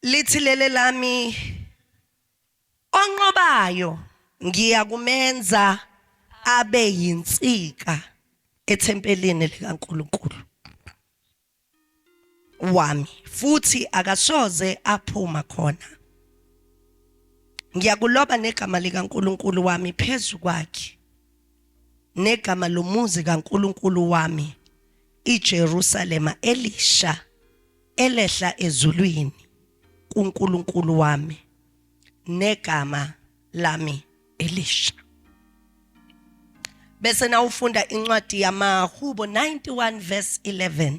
lithi lele lami onqobayo ngiyakumenza abe yinsika ethempelini likaNkuluNkulu wami futhi akasoze aphuma khona ngiyakuloba negama likaNkuluNkulu wami phezu kwakhe negama lomuzi kaNkulunkulu wami, iJerusalema elisha elehla ezulwini kuNkulunkulu wami negama lami elisha. Bese nawufunda incwadi yamaHubo 91 verse 11.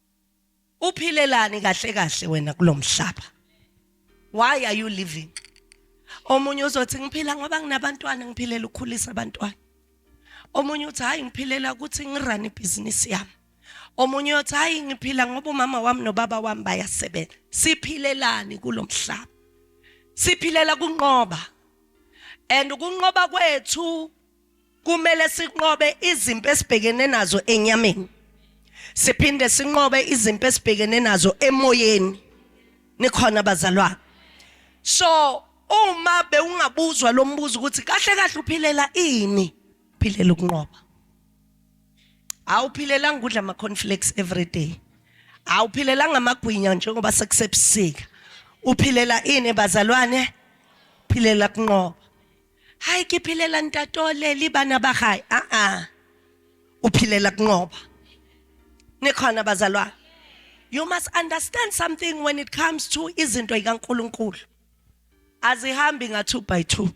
uphilelani kahle kahle wena kulomhlaba why are you living omunye uzothi ngiphila ngoba nginabantwana ngiphilela ukukhulisa abantwana omunye uthi hayi ngiphilela ukuthi ngirun ibhizinisi yami omunye uthi hayi ngiphila ngoba umama wami nobaba wami bayasebenza siphilelani kulomhlaba siphilela kunqoba and ukunqoba kwethu kumele sinqobe izimpi esibhekene nazo enyameni siphinde sinqobe izimpi esibhekene nazo emoyeni nikhona bazalwane so uma bewungabuzwa lo mbuzo ukuthi kahle kahle uphilela ini philela ukunqoba awuphilelanga ukudla ama cornflakes every day awuphilelanga amagwinya njengoba sekusebusika uphilela ini bazalwane philela kunqoba hayi ke phelela ntatole libana ba gae a a o phelela kunqoba ne khona bazalwane you must understand something when it comes to izinto ikaNkuluNkulu azihambi nga 2 by 2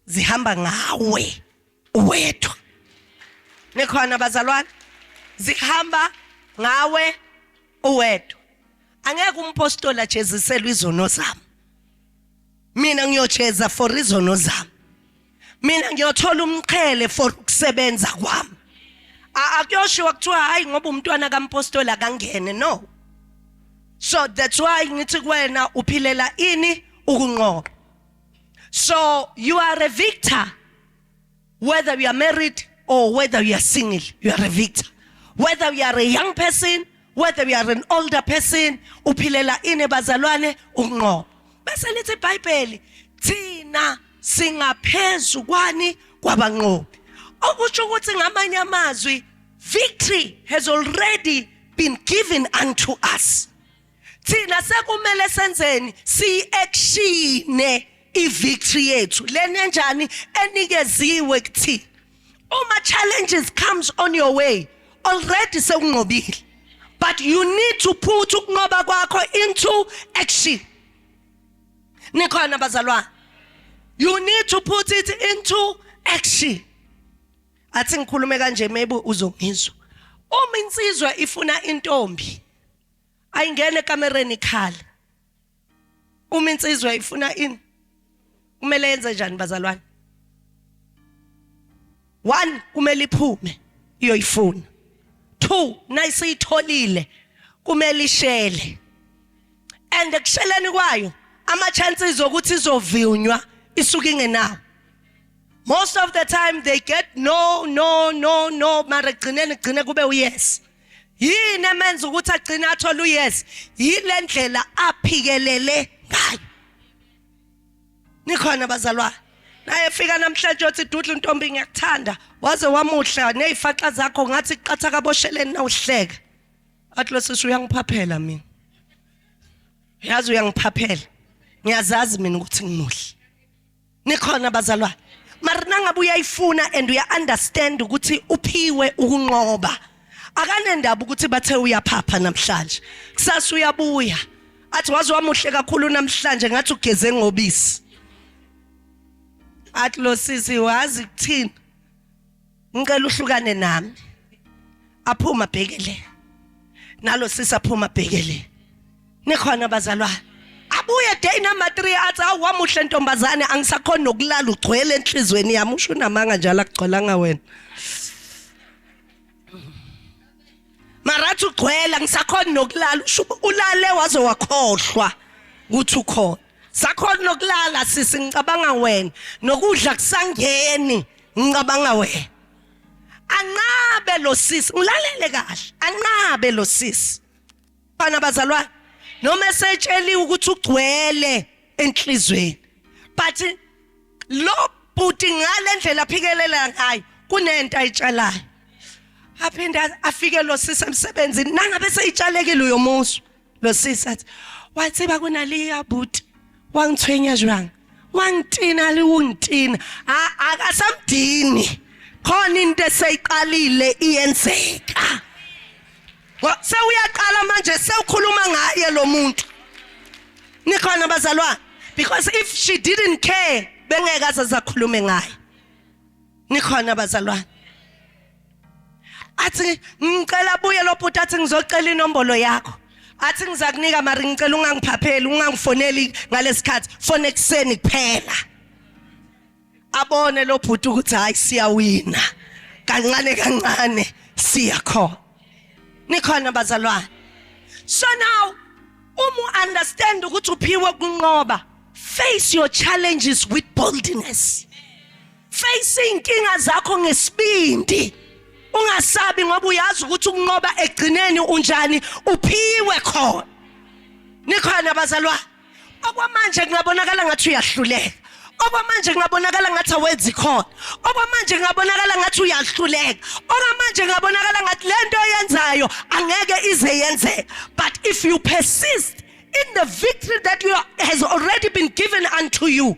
zihamba ngawe uwedwa nikhona bazalwane zihamba ngawe uwedwa angeke umpostoli ajeziselwe izono zami mina ngiyocheza for izono zami mina ngiyothola umqhele for ukusebenza kwami akuyoshiwa kuthiwa hayi ngoba umntwana kampostoli akangene no so that's why ngithi kuwena uphilela ini ukunqoba so you are a victor whether you are married or whether you are single you are a victor whether you are a young person whether you are an older person uphilela ini bazalwane ukunqoba bese lithi iBhayibheli thina singaphezulu kwani kwabanqobi okusho ukuthi ngamanye amazwi victory has already been given unto us thina sekumele senzeni siyi-actione i-victory yethu lena enjani enikeziwe kuthina uma challenges comes on your way already sekunqobile but you need to put ukunqoba kwakho into action nikhona bazalwane you need to put it into action athi ngikhulume kanje maybe uzongizwa uma insizwa ifuna intombi ayingene ekamereni ikhale uma insizwa ifuna ini kumele yenze njani bazalwane one kumele iphume iyoyifuna two nayisiyitholile kumele ishele and ekusheleni kwayo ama chances okuthi izovinywa isuke ingenawo most of the time they get no no no no mara gcineni gcine kube uyes yini emenza ukuthi agcine athole uyes yile ndlela aphikelele ngayo nikhona bazalwane naye fika namhlanje othi dudla untombi ngiyakuthanda waze wamuhla nezifaxa zakho ngathi qatha kabosheleni nawuhleka athi lo sisi uyangiphaphela mina yazi uyangiphaphela ngiyazazi mina ukuthi ngimuhle nikhona bazalwane mara nangabe uyayifuna and uya understand ukuthi uphiwe ukunqoba akanendaba ukuthi bathe uyaphapha namhlanje kusasa uyabuya athi waze wamuhle kakhulu namhlanje ngathi ugeze ngobisi athi lo sisi wazi kuthini ngicela uhlukane nami aphuma bhekele nalo sisa phuma bhekele nikhona bazalwane abuye day number 3 athi awamuhle ntombazane angisakhona nokulala ugcwele enhlizweni yami usho unamanga njalo akugcwalanga wena marathi ugcwela ngisakhona nokulala usho ulale waze wakhohlwa ukuthi ukhona sakhona nokulala sisi ngicabanga wena nokudla kusangeni ngicabanga wena anqabe lo sisi ngilalele kahle anqabe lo sisi bana bazalwane noma esetsheliwe ukuthi ugcwele enhlizweni but lo bhuti ngalendlela aphikelela ngayo kunento ayitshalayo aphinde afike lo sisi emsebenzini nangabe seyitshalekile uyomuswa lo sisi athi wathi bakunaliya bhuti wangithwenya jwanga wangithina liwungithina akasamdini khona into eseyiqalile iyenzeka sewuyaqala manje sewukhuluma ngaye lo muntu nikhona bazalwane because if she didn't care bengeke azakhulume ngaye nikhona bazalwane athi ngicela buye lo bhuti athi ngizocela inombolo yakho athi ngizakunika mari ngicela ungangiphapheli ungangifoneli ngalesikhathi fone ekseni kuphela abone lo bhuti ukuthi hayi siyawina kancane kancane siya khona nikhona bazalwane so now uma understand ukuthi uphiwe kunqoba face your challenges with boldness face inkinga zakho ngesibindi ungasabi ngoba uyazi ukuthi ukunqoba egcineni unjani uphiwe khona nikhona abazalwa okwamanje kungabonakala ngathi uyahluleka okwamanje kungabonakala ngathi awenzi khona okwamanje kungabonakala ngathi uyahluleka okwamanje kungabonakala ngathi lento oyenzayo angeke ize yenzeke but if you persist in the victory that you has already been given unto you